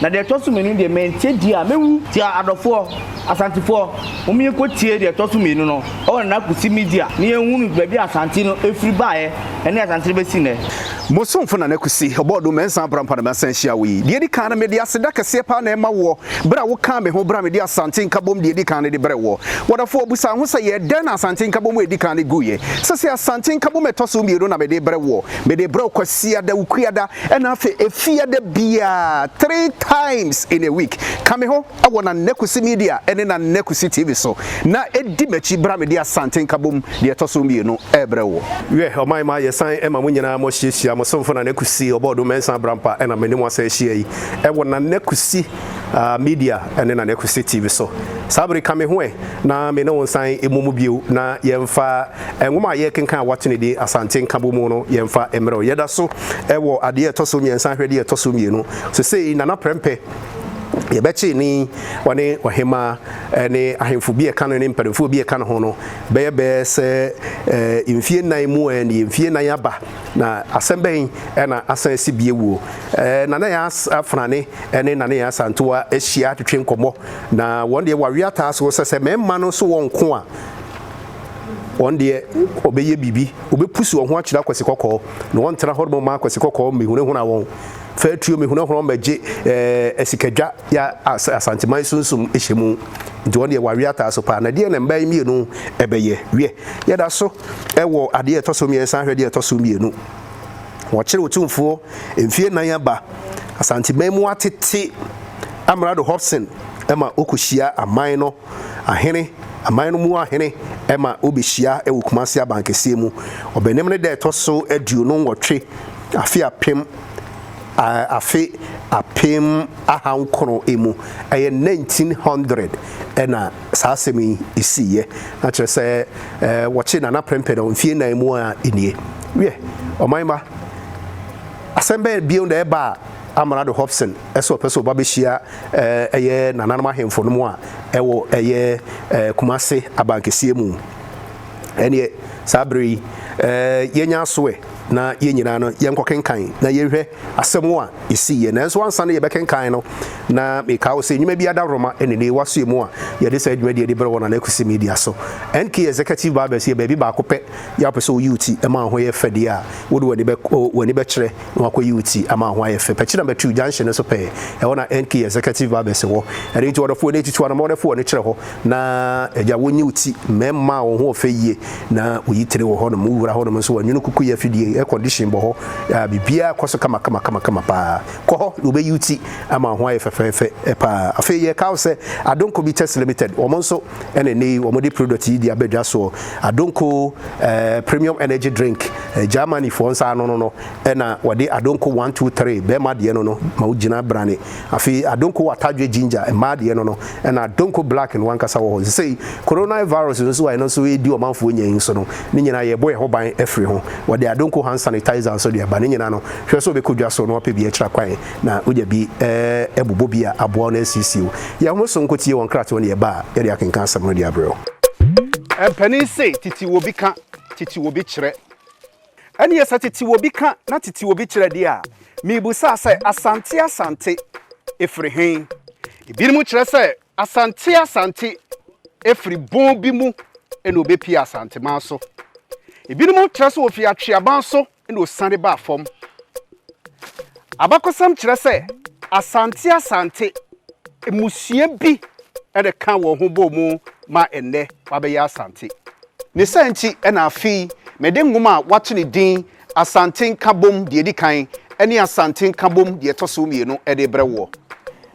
Na deɛ ɛtɔ so mmienu deɛ, mantie die a, mɛwu. Nti adɔfoɔ, Asantefoɔ, momma yɛnkɔtie deɛ ɛtɔ so mmienu no wɔ Nana Kusi Media na yɛnhunu baabi a Asante no firi baeɛ ne Asante no bɛsi nnɛ. Mo somfo Nana Kusi, Ɔbɔɔdom, Mɛnsan Abra Mpa na Mɛsan Ahyia Wo yi. Deɛ ɛdi kan no, mede aseda kɛseɛ paa na ɛma woɔ berɛ a wokaa me ho berɛ a mede Asante Nkabom deɛ ɛdi kan no de brɛɛ woɔ. W'adɔfoɔ, bisa wo ho sɛ, yɛɛ dɛn na Asante Nkabom a ɛdi kan no guiɛ? Sɛsei Asante Nkabom a ɛtɔ so mmienu na mede rebrɛ woɔ. Mede rebrɛ wo Kwasiada, Wukuada, Ɛna afei efia da biaa three times in a week ka me ho wɔ Nana Kwesi Media ne Nana Kwesi TV so na di m'akyi bra mede Asante Nkabom deɛ ɛtɔ so mmienu rebrɛ woɔ. Wiɛ, ɔman ma yɛsan ma mo nyinaa mo ahyiahyia, mo somfo Nana Kwesi Ɔbɔɔdom Mensah Abrampa na me ne mo asan ahyia yi wɔ Nana Kwesi Media ne Nana Kwesi TV so. Saa bere ka me ho ɛ na me ne wo nsan mmɔ mu bio na yɛmfa Nwoma a yɛrekenkan a wɔato no din Asante Nkabom mu no, yɛmfa mmerɛw. Yɛda so wɔ ade a ɛtɔ so mmiɛnsa ahwɛde a ɛtɔ so mmienu. Seesei Nana Prɛmpɛ yɛbɛkyee no yi, ɔne ɔhemmaa ne ahemfo bi a ɛka no ne mpanimfoɔ bi a ɛka ne ho no bɛyɛ bɛyɛ sɛ mfie nnan mu ɛ ne mfie nnan aba na asɛm bɛn na asan asi bie wuo. Nana yɛ afanane ne Nana yɛ asantewa ahyia atwetwe nkɔmmɔ na wɔn deɛ wɔawe ataa so sɛ sɛ mmarima no so wɔn nko a wɔn deɛ wɔbɛyɛ biribi, wɔbɛpusu wɔn ho akyerɛ akwasi kɔkɔɔ, na wɔntena hɔ ma akwasi kɔkɔɔ mmɛhunahuna wɔn. Fa atuo mmɛhunahuna wɔn bɛgye ɛɛ asikadwa yɛ Asanteman sunsum hyɛ mu. Nti wɔn deɛ wɔawe ataa so paa. Na deɛ na mmaa yi mmienu ɛbɛyɛ? Wiɛ, yɛda so wɔ adeɛ ɛtɔ so mmiɛnsa ahwɛ deɛ ɛtɔ so mmienu. Wɔkyere otumfoɔ mfie nan aba Asanteman mu atete Amrado Hobson ma ɔkɔhyia aman no ahene, aman no mu ahene ma wobehyia wɔ Kumasi Abankɛseɛ mu. Ɔbɛnem no da ɛtɔ so aduonu nwɔtwe afe apem afe apem aha nkron mu, ɛyɛ nineteen hundred na saa asɛm yi siiɛ. Na kyerɛ sɛ wɔkye Nana prɛmpɛ no mfie nnan mu ara nie. Wiɛ, ɔman mma, asɛm bɛn bio na ɛbaa Amrado Hobson sɛ ɔpɛ sɛ ɔba bɛhyia ɛyɛ nananom ahemfo no mu a ɛwɔ ɛyɛ Kumase abankɛseɛ mu ɛneɛ saa berɛ yi yɛnya asoɛ na yɛn nyinaa no yɛnkɔkenkan na yɛnhwɛ asɛm a ɛsii yɛ nanso ansa no yɛbɛkenkan no na meka wo sɛ nnwuma bi adaworoma ɛne ne wasoɛ mu a yɛde saa adwuma deɛ de berɛ wɔ na nakusi media so NK executive barbers yɛ baabi baako pɛ yɛ apɛ sɛ woyi wo ti ɛma ho yɛ fɛdeɛ a wode w'ani bɛkyerɛ na wakɔyi wo ti ama ho ayɛ fɛ. Pɛkyɛ number two junction no so pɛɛ, ɛhɔ na NK Executive Barbers wɔ. Ɛno nti ɔdɔfoɔ no atutu anamɔ no foɔ no kyerɛ hɔ na agya wonyi wo ti. Mmarima a wɔn ho ɔfɛ yie na wɔyi tire wɔ hɔnom. Wo wura hɔnom nso wɔanwunu kukuyɛ afidie, air condition bɔ hɔ, a biribiara kɔ so kama kama kama kama pa ara. Kɔ hɔ na wɔbɛyi wo ti ama wo ho ayɛ fɛfɛɛfɛ pa ara. Afei yɛreka wo sɛ Adonko Bitters Limited, wɔn nso, ɛna ɛnɛ yi wɔde product yi de abɛdwa soɔ adonko ɛɛ premium energy drink ɛɛ germany foɔ nsa ano no no ɛna wɔde adonko one two three bɛrima deɛ no no ma wogyina brane afei adonko watadwe ginger mmaa deɛ no no ɛna adonko black no wankasa wɔ hɔ sesei coronavirus no nso a ɛno nso ɛredi ɔmanfoɔ nya yi nso no ne nyinaa yɛbɔ ɛho ban afiri ho wɔde adonko hand sanitizer nso de aba ne nyinaa no hwɛ sɛ wobɛkɔ dwa so na wapɛ bi akyira kwan na wogya bi ɛɛ bobɔ bi a aboa wo na asiesie wo. Yɛ wo ho so nko tie wɔn nkratoɔ ne ɛba a yɛde akenkan asɛm no de abrɛ wo. Mpanin se titiwobi ka, titiwobi kyerɛ. Ɛneɛ sɛ titiwobi ka na titiwobi kyerɛ deɛ a, mebusa sɛ Asante Asante ɛfiri he? Ebinom kyerɛ sɛ Asante Asante ɛfiri bon bi mu na ɔbɛpie Asanteman so. Ebinom kyerɛ sɛ ɔfiri Atweaban so Ɛnna osian baa fam. Abakɔsɛm kyerɛ sɛ Asante Asante mmusua bi na ɛkaa wɔn ho bɔɔ mu ma ɛnnɛ wɔabɛyɛ Asante. Ne saa nti na afei mede nwoma a wɔato ne din Asante Nkabom Deɛ Ɛdi Kan ne Asante Nkabom Deɛ Ɛtɔ So Mmienu de rebrɛ woɔ.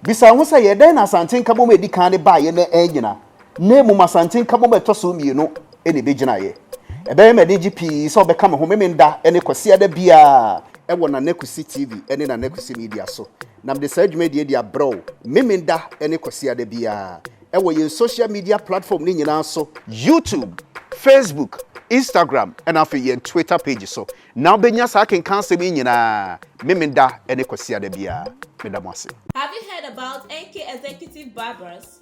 Bisa wo ho sɛ, 'Yɛ dɛn na Asante Nkabom a ɛdi kan no baeɛ na annyina? na mmom Asante Nkabom a ɛtɔ so mmienu na ebegyinaeɛ. Ɛbɛyɛ me anigye pii sɛ wobɛka me ho Memenda ne Kwasiada biara wɔ Nana Kwesi TV ne Nana Kwesi Media so, na mede saa dwumadie yi de abrɛ wo Memenda ne Kwasiada biara wɔ yɛn social media platform no nyinaa so, YouTube, Facebook, Instagram na afei yɛn Twitter page so na wobɛnya saa akenkan asɛm yi nyinaa Memenda ne Kwasiada biara. Meda mo ase. Have you heard about NK Executive Barbers?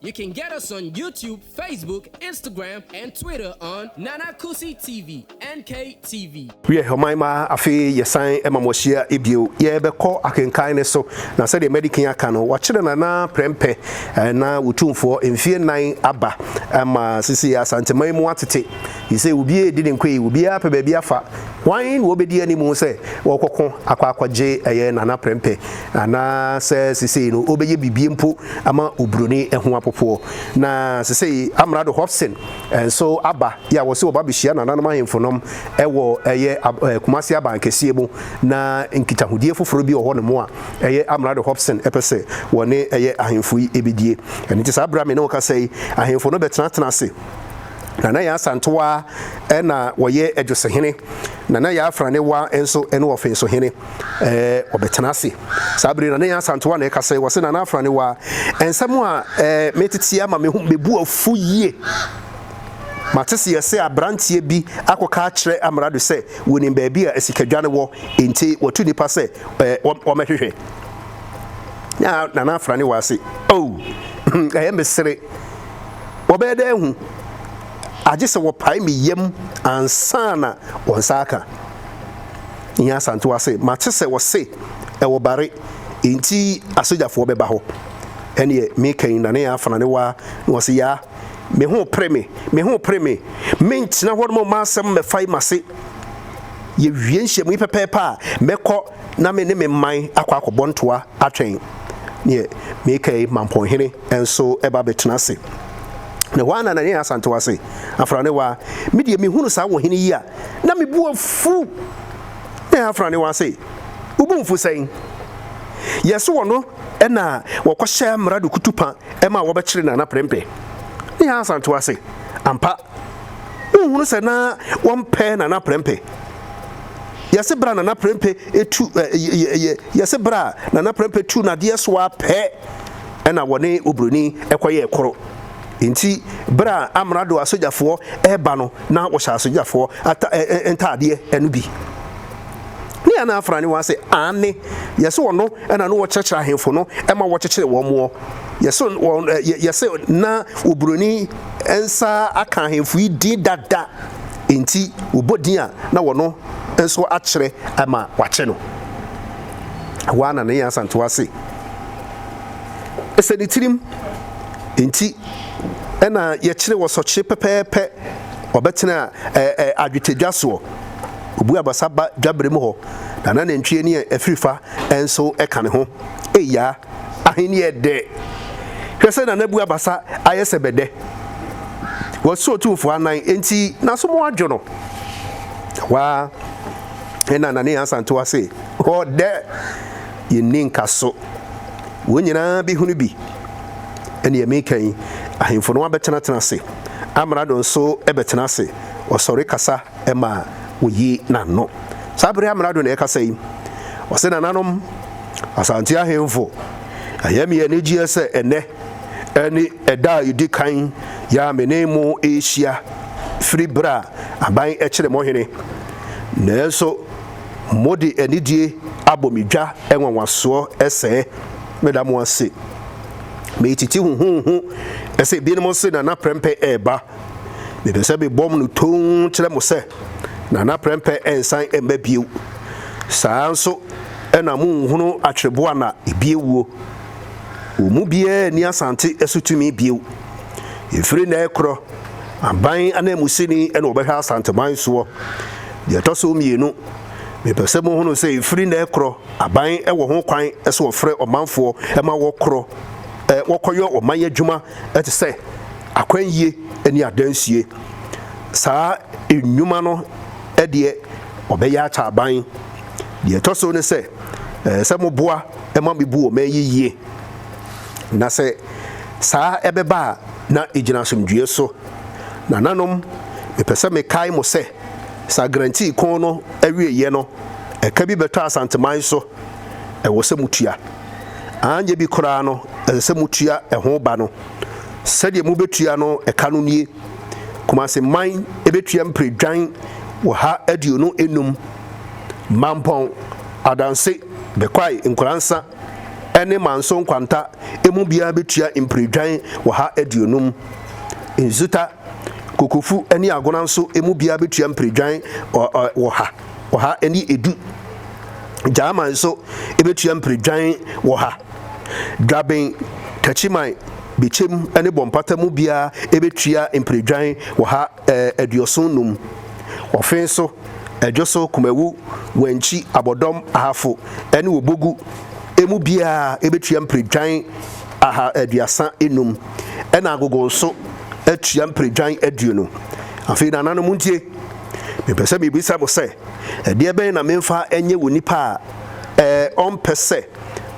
You can get us on YouTube, Facebook, Instagram and Twitter on Nana Kusi TV, NKTV. Wiɛ ɔman ma afei yɛsan ma mo ahyia bio. Yɛbɛkɔ akenkan no so, na sɛdeɛ Madi kan aka no, wɔakyerɛ Nana prɛmpɛ na Otumfoɔ mfeɛ nnan aba ma sisi Asanteman mu atete Te sɛ obi redi ne nkoe, obiara apɛ baabi afa. Hwan na obedi anim sɛ ɔrekɔko akɔ akɔgye ɛyɛ Nana Prɛmpɛ anaa sɛ seesei no ɔbɛyɛ biribi mpo ama Oburoni ho apopoɔ? Na seesei Amrado Hobson nso aba yɛ a wɔse wɔba abɛhyia Nananom Ahemfo nom wɔ ɛyɛ Kumasi Abankɛseɛ mu na nkitahodie foforɔ bi wɔ hɔ nom a ɛyɛ Amrado Hobson pɛ sɛ wɔne ɛyɛ Ahemfo yi bɛdie. Ɛno nti saa berɛ a me ne wo kasa yi, Ahemfo no bɛtenatena ase. Nana Yaa Asantewaa na ɔyɛ Adwosohene. Nana Yaa Afranewaa nso ne Ɔfensohene. Wɔbɛtena ase. Saa bere yi Nana Yaa Asantewaa na ɛkasa yi, ɔse, Nana Afranewaa, nsɛm a meteteɛ ama me ho mebu afu yie. Mateseɛ sɛ aberanteɛ bi akɔka akyerɛ Amrado sɛ wɔnim baabi a asikadwa no wɔ, enti watu nnipa sɛ wɔmmɛhwehwɛ. Na Nana Afranewaa se, Oh, ɛyɛ me sere. wɔbɛyɛ dɛ ahu, agye sɛ wɔpae me yam ansa na wɔn nsa aka. Nya Asantewaa se, Mate sɛ wɔse ɛwɔ Bare nti asogyafoɔ bɛba hɔ. Ɛneɛ meka yi na ne afena ne waa na wɔse yaa, me ho pere me, me ho pere me, mentena hɔ nom mma asɛm mmɛfae m'ase. Yɛwie nhyiamu yi pɛpɛɛpɛ a, mɛkɔ na me ne me man akɔ akɔbɔ ntoa atwɛn neɛ meeka yi ma Mpɔnhene nso ɛba bɛtena ase. Na hɔ ara na Nanaia Asantewaa se, Afranewaa, me deɛ mehunu saa wo hene yi a, na me bo afu. Na Afranewaa se, Wo bo mfu sɛn? Yɛ so wɔ no na wɔkɔhyɛ Amrado Kutupa ma wɔbɛkyere Nana Prempeh. Na Asantewaa se, Ampa. wonhunu sɛ na wɔmpɛ Nana Prɛmpɛ. Yɛse berɛ a Nana Prɛmpɛ etu ɛ yɛ yɛ yɛse berɛ a Nana Prɛmpɛ tu nadeɛ so a pɛ ɛna wɔne Obroni ɛkɔyɛɛ koro. Nti berɛ a Amrado asogyafoɔ ɛreba no na wɔhyɛ asogyafoɔ ata ɛ ɛ ntaadeɛ ɛno bi. Ne yɛn na afra ne wɔn ase aane yɛse wɔno ɛna no wɔkyerɛkyerɛ ahemfo no ɛma wɔkyekyere wɔn moɔ. Yɛse wɔn ɛ yɛ yɛse na Obroni. nsa aka ahemfo yi din dada nti, wɔbɔ din a na wɔno nso akyerɛ ma wɔakyɛ no. Ɛhɔ ara na ne nyansa nto ase. Ɛsɛ ne tirim nti na yɛkyere wɔ sɔkye pɛpɛɛpɛ. Ɔbɛtena adwetɛdwa soɔ, ɔbu abasa ba dwabere mu hɔ, na n'anantwie ne afirifa nso ka ne ho. Eia! Ahenni yɛ dɛ. Hwɛ sɛ Nana Abu abasa ayɛ sɛ bɛdɛ. Wasi Otumfoɔ anan enti n'asom adwo no. Ɛhɔ ara na Nana Asantewaa se, Ɔdɛ! Yenni nkaso. Wɔn nyinaa behunu bi. Nea meka yi, ahemfo no abɛtenatena ase. Amrado nso bɛtena ase. Ɔsɔre kasa. ma woyi n'ano. Saa bere amrado na ɛrekasa yi, ɔse, Nananom, Asante ahemfo, ɛyɛ me anigyeɛ sɛ ɛnnɛ ne ɛda a ɛdi kan yɛ a me ne mo rehyia firi bere a aban kyere mo hene. Nanso mode anidie abɔ me dwa nwanwasoɔ sɛɛ. Meda mo ase. Metiti huhuuhu sɛ ebinom se Nana Prempeh reba. Mepɛ sɛ mebɔ no tumm kyerɛ mo sɛ, Nana Prɛmpɛ nsan mma bio. Saa ara nso na monhunu Atwerɛboa na ebi awuo. Wɔn mu biara nni Asante so tumi bio. Ɛfiri nnɛ rekorɔ, aban ananmusini na ɔbɛhwɛ Asanteman soɔ. Deɛ ɛtɔ so mmienu, mepɛ sɛ mohunu sɛ ɛfiri nnɛ rekorɔ, aban wɔ ho kwan sɛ wɔfrɛ ɔmanfoɔ ma wɔkorɔ wɔkɔyɔ ɔman adwuma te sɛ akwannyie ne adansie. Saa nnwuma no deɛ ɔbɛyɛ akyɛ aban. Deɛ ɛtɔ so ne sɛ, ɛsɛ sɛ moboa ma mebu wɔn man yi yie. Na sɛ saa ɛbɛba a, na ɛgyina asomdwoeɛ so. Nananom, mepɛ sɛ mekae mo sɛ, saa guarantee ko no awieeɛ no, ɛka bi bɛtɔ Asanteman so. Ɛwɔ sɛ motua. Anyɛ bi koraa no, ɛsɛ sɛ motua ɛho ba no. Sɛdeɛ mobetua no ɛka no nie, Kumase man betua mpire dwan wɔ ha aduonu nnum, Mampɔn, Adanse, Bekwai, Nkoransa ne Manso Nkwanta emu biara betua mpire dwan wɔ ha aduonum, Nzuta, Kokofu ne Agona nso emu biara betua mpire dwan wɔ ha. ɔha ne edu. Gyaama nso bɛtua mpiridwan ɔha. Dwaben, Takyiman, Bekyem ne Bɔmpata mu biara bɛtua mpiridwan ɔha aduoson num. Ɔfe nso, Adwoso, Kumawu, Wankyi, Abɔdɔm, Ahafo ne Obogu mu biara bɛtua mpiridwan aha aduasa num. Ɛna Agogo nso atua mpiridwan aduonu. Afei Nananom ntie. Mepɛ sɛ mibisa mo sɛ, ɛdeɛ bɛn na memfa nyɛ wɔ nipa a ɔmpɛ sɛ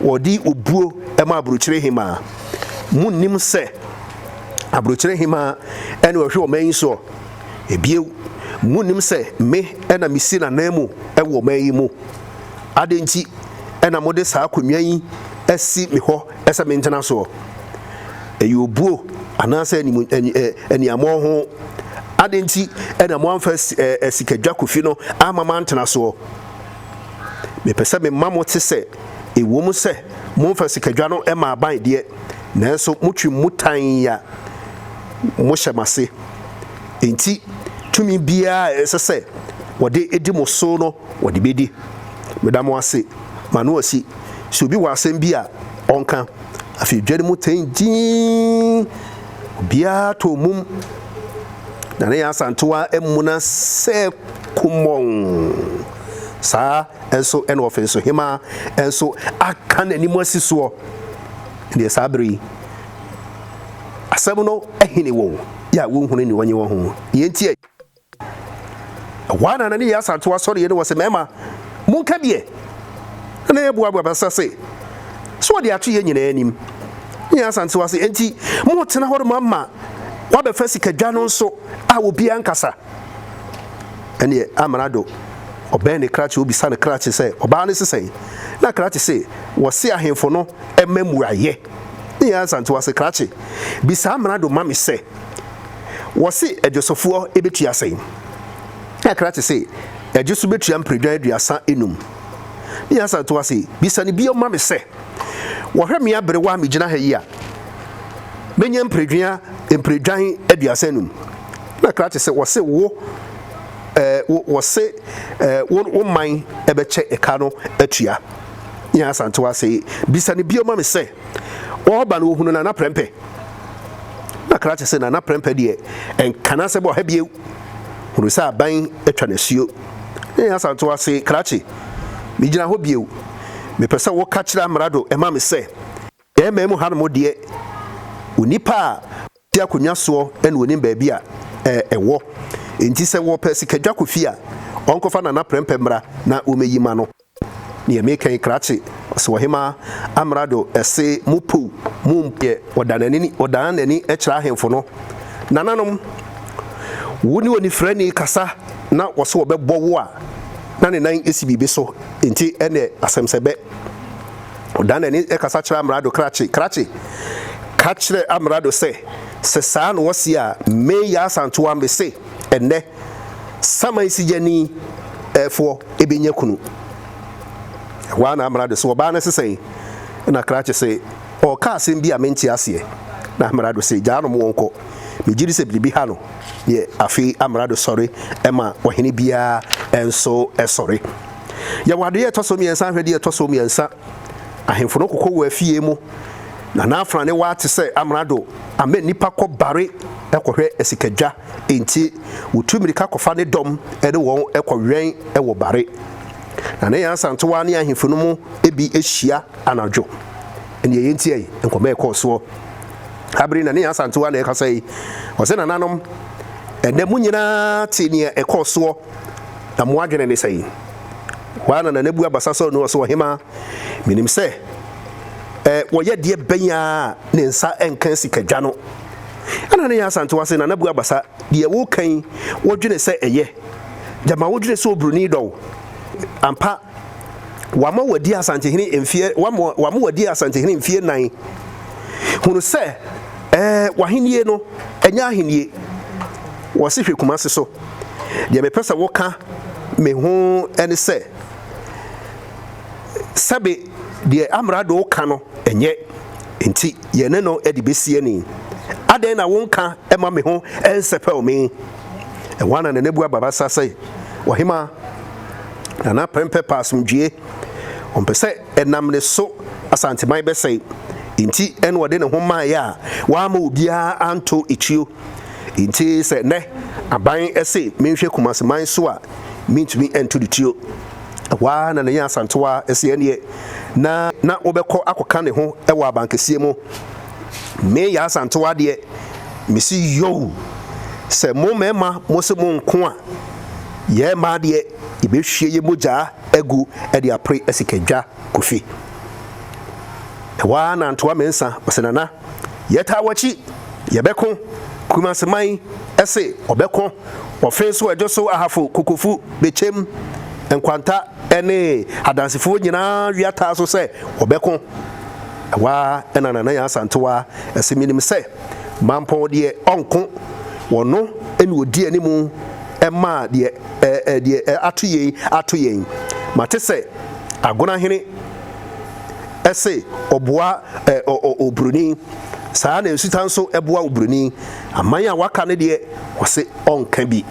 ɔde obuo ma Aburokyire Hemaa? Monnim sɛ Aburokyire Hemaa na ɔhwɛ ɔman yi soɔ? Bio, monnim sɛ me na mesi n'ananmu wɔ ɔman yi mu? Adɛn nti na mode saa akonnwa yi asi me hɔ? Ɛsɛ me ntenasoɔ, ɛyɛ obuo anaasɛ anim, ani, aniammɔn ho? Adɛn nti na moamfa sikadwa kofi no amma m'antenasoɔ? Mepɛ sɛ mema mote sɛ, ɛwom sɛ momfa sikadwa no mmaa aban deɛ, nanso motwe mu tann a mohyɛ m'ase. Enti tumi biara a ɛsɛ sɛ wɔde di mo so no wɔde bɛdi. Meda mo ase, Manoasi. sɛ obi wɔ asɛm bi a ɔnka. Afei dwa no mu tɛn dinn, obiara tɔ mum, na ne asantewa mmuna sɛ kumɔnn. Saa nso na ɔfensohemmaa nso aka n'anim asi soɔ. Ɛnneɛ saa bere yi, asɛm no hene wɔn a wɔnhunu ne wɔnye wɔn ho. Deɛ enti a. Ɛhɔ ara na na ne yere asan to asɔre yɛ ne wɔn se, Marima, monka deɛ na na yɛ boa boa bɛsa se, so wɔde ato yɛ nyinaa anim. Ne yere asan to ase, Enti mo retena hɔ rema ma wɔabɛfa sika dwa no nso a obiara nkasa? Ɛneɛ Amrado, ɔbɛn ne krakye obisa ne krakye sɛ, Ɔbaa no se sɛn? Na krakye se, Wɔse ahemfo no mma mmuaeɛ. Ne yere asan to ase, Krakye, bisa Amrado ma me sɛ, Wɔse adwosofoɔ bɛtua sɛn? Kakra te se adwoso bɛtua mperedwan aduasa nnum. Ne Hassan toa se, Bisa no bio ma me sɛ, wɔhwɛ me aberewa a megyina ha yi a, mɛnya mperedwea mperedwan aduasa nnum? Kakra te se wɔse wo eh, wo, wɔse eh, wo, wo man bɛkyɛ ka no atua. Ne Hassan toa se, Bisa no bio ma me sɛ, ɔreba no ohunu Nana Prɛmpɛ. Na krakye se Nana Prɛmpɛ deɛ ɛnka n'asɛm ɔha bio. Hunu sɛ aban atwa n'asuo. Nene Asantewaa se, Krakye, megyina hɔ bio. Mepɛ sɛ woka kyerɛ amrado ma me sɛ, yɛn man mu hanom deɛ, onipa a ɔte akonnwa soɔ na ɔnim baabi a ɛwɔ. Enti sɛ wɔpɛ sikadwa kɔ fie a, ɔnkɔfa Nana Prɛmpɛ mmra na wɔmmɛyi mma no. Deɛ meeka yi krakye ɔse ɔhemaa amrado se mo pow mo mpo deɛ ɔdan nani kyerɛ ahenfo no nananom wo ne onifirani kasa na ɔse ɔbɛbɔ wo a na ne nan si biribi so nti ɛnɛ asem sɛ bɛ ɔdan nani kasa kyerɛ amrado krakye krakye ka kyerɛ amrado sɛ sɛ saa na ɔse a me Yaa Asantewaa mese ɛnɛ saman sigyani foɔ bɛnya kunu. Ɛhɔ ara na Amerado se, ɔbaa no se sɛn? Ɛna Krakye se, ɔreka asɛm bi a mente aseɛ. Na Amerado se, gyaa no ma ɔnkɔ. Megye di sɛ biribi ha no deɛ. Afei Amerado sɔre ma ɔhene biara nso sɔre. Yɛ wɔ adeyɛ ɛtɔ so mmiɛnsa hwɛ deɛ ɛtɔ so mmiɛnsa. Ahemfo no kɔkɔ wɔ afie mu, na na afra ne wa te sɛ amrado ama nnipa kɔ bare kɔhwɛ asikadwa, enti wotu mmirika kɔfa ne dɔm ne wɔn kɔwɛn wɔ bare. Na ne Nyansantowa ne ahemfo no mu bi hyia anadwo. Nea eye nti ei, nkɔmmɔ a ɛkɔɔ soɔ. Saa bere yi na ne Nyansantowa na ɛrekasa yi, ɔse, Nananom, ɛnnɛ mo nyinaa te nea ɛkɔɔ soɔ. Na mo adwene ne sɛn? Hɔ ara na Nana bua basa sɔɔ Noa so, Ɔhemaa, menim sɛ ɛ, wɔyɛ deɛ bɛn a ne nsa nka sika dwa no. Ɛna ne yɛ Asantewa se, Nana bua basa, deɛ woka yi, wodwene sɛ ɛyɛ? Gyama wodwene sɛ obroni dɔ wo ampa? Wama wadi Asantehene mfeɛ wama wama wadi Asantehene mfeɛ nan. Hunu sɛ ɛɛ w'ahennie no ɛnyɛ ahennie. Wɔsi hwɛ Kumasi so. Deɛ mepɛ sɛ woka me ho ɛne sɛ sɛbe deɛ amrado ka no ɛnyɛ nti yɛn ne no ɛde bɛsi ani. Adɛn na wonka ɛma me ho ɛnsɛpɛw me? Ɛhɔ ana Nanabua Babasa sɛ, W'ahemaa. na na prɛmpɛ pɛ asomdwoeɛ. Ɔmpɛ sɛ ɛnam ne so Asanteman bɛsɛe. Enti na ɔde ne ho maeɛ a wamma obiara anto etuo. Enti sɛ nnɛ aban se menhwɛ Kumaseman so a, mentumi nto no tuo. Ɛhɔ ara na Nanya Asantewa se ɛnneɛ na na wobɛkɔ akɔka ne ho wɔ Abankɛseɛ mu. Me Yaa Asantewa deɛ, mese yoo! Sɛ mo mmarima mose monko a, Yɛn mmaa deɛ, yɛbɛhwie yɛn mogya agu de apere asikadwa, Kofi. Ɛhɔ ara na Antoa Mensah ɔse, Nana, yɛtaa w'akyi, yɛbɛko, Kurumanseman se ɔbɛko, ɔfe nso ɛdwo so Ahafo, Kokofu, Bekyem, Nkwanta ne Adansefoɔ nyinaa wia taa so sɛ wɔbɛko. Ɛhɔ ara na Nana Nyansah Antoa se, Menim sɛ. Mampɔn deɛ ɔnko, ɔno na ɔdi anim ma deɛ ato yei ato yɛn. Mate sɛ Agonahene se ɔboa obroni, saa na Nsuta nso boa obroni. Aman a wɔaka no deɛ, ɔse ɔnka bi.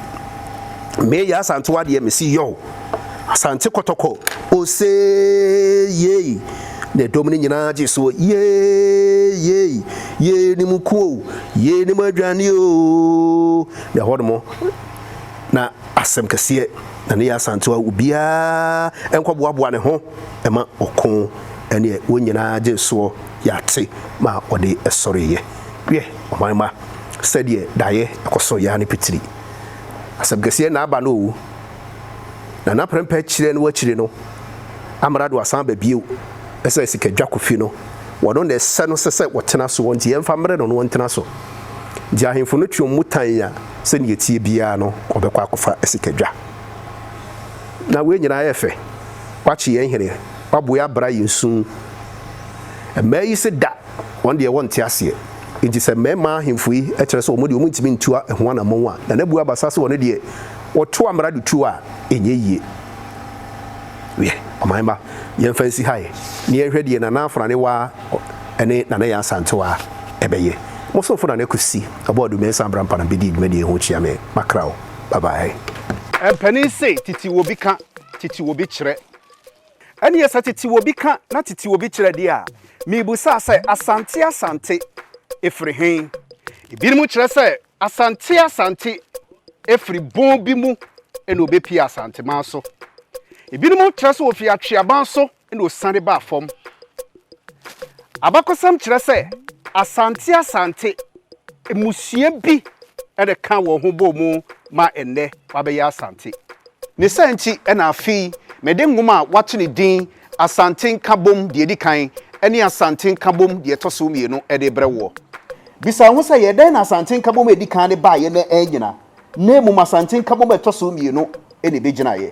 Me Yaa Asantewaa deɛ mese yow. Asante Kɔtɔkɔ, osee, yei! Na dɔm no nyinaa gyee so, yee, yei! Yei ne mo ku o, yei ne mo aduane o! Na ɛhɔnom na asɛm kɛseɛ na ne yɛ Asante a obiara nkɔboaboa ne ho ma ɔko ɛneɛ wɔn nyinaa gyee soɔ yɛate ma ɔde ɛsɔreeɛ. Wiɛ, ɔman ma, sɛdeɛ daeɛ ɛkɔ so yɛ ara ne pitiri. Asɛm kɛseɛ na aba no o. na n'aprɛmpɛ kyerɛ no akyire no, amrado asan aba bio sɛ sika dwakofi no, wɔno na ɛsɛ no sɛ sɛ wɔtena soɔ, nti yɛmfa mmrɛ no na ɔntena so. Nti ahemfo no tweam mu tan a sɛdeɛ ɛteɛ biara no ɔbɛkɔ akɔfa sika dwa. Na wei nyinaa yɛ fɛ, wakye yɛn hene, waboe abra yɛn su. Mmaa yi se da, wɔn deɛ wɔnte aseɛ. Nti sɛ mmarima ahemfo yi kyerɛ sɛ wɔn deɛ wɔntumi ntua ɛho anammɔn a, Nana Buo Abasa se wɔn deɛ Wɔtoa mmara de tuo a, ɛnyɛ yie. Wiɛ, ɔman mma, yɛmfa nsi ha ɛ, na yɛnhwɛ deɛ Nana Afenanewaa ne Nana Yaa Asantewaa bɛyɛ. Mo somfo Nana Kwesi Ɔbɔadu Mensah Abrampana bɛdi dwumadie yi ho kyea me. Makra o. Bye bye. Mpanin se titiriw obi ka, titiriw obi kyerɛ. Ɛnneɛ sɛ titiriw obi ka na titiriw obi kyerɛ deɛ a, mebisa sɛ Asante Asante firi he? Ebinom kyerɛ sɛ Asante Asante firi bon bi mu na wɔbɛpie Asanteman so. Ebinom kyerɛ sɛ wɔfiri Atweaban so na wɔsiane baa fam. Abakɔsɛm kyerɛ sɛ Asante Asante mmusua bi na ɛkaa wɔn ho bɔɔ mu ma ɛnnɛ wɔabɛyɛ Asante. Ne saa nti na afei mede nwoma a wɔato ne din Asante Nkabom deɛ ɛdi kan ne Asante Nkabom deɛ ɛtɔ so mmienu de rebrɛ woɔ. Bisa wo ho sɛ, yɛ dɛn na Asante Nkabom a ɛdi kan no baeɛ na annyina, na mmom Asante Nkabom a ɛtɔ so mmienu na ɛbɛgyinaeɛ?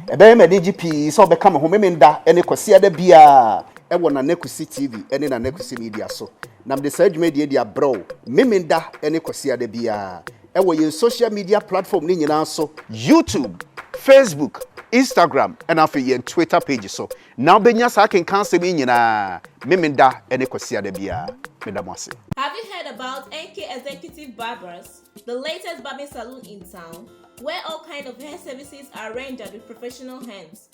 Ɛbɛyɛ me anigye pii sɛ wobɛka me ho Memenda ne Kwasiada biara wɔ Nana Kwesi TV ne Nana Kwesi Media so, na mede saa dwumadie yi de abrɛ wo Memenda ne Kwasiada biara. wɔ yɛn social media platform no nyinaa so, YouTube, Facebook, Instagram ɛna afei yɛn Twitter page so na wobɛnya saa akenkan asɛm yi nyinaa Memenda ne Kwasiada biara. Meda mo ase. Have you heard about NK Executive Barbers, the latest barbing saloon in town, where all kind of hair services are rendered with professional hands?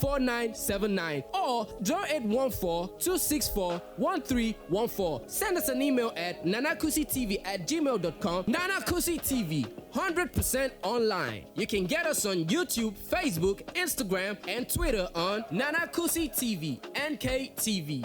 4979 or 0814-264-1314. Send us an email at nanakusitv at gmail dot com Nana Kusi TV, 100 percent online. You can get us on YouTube, Facebook, Instagram and Twitter on Nana Kusi TV, NKTV.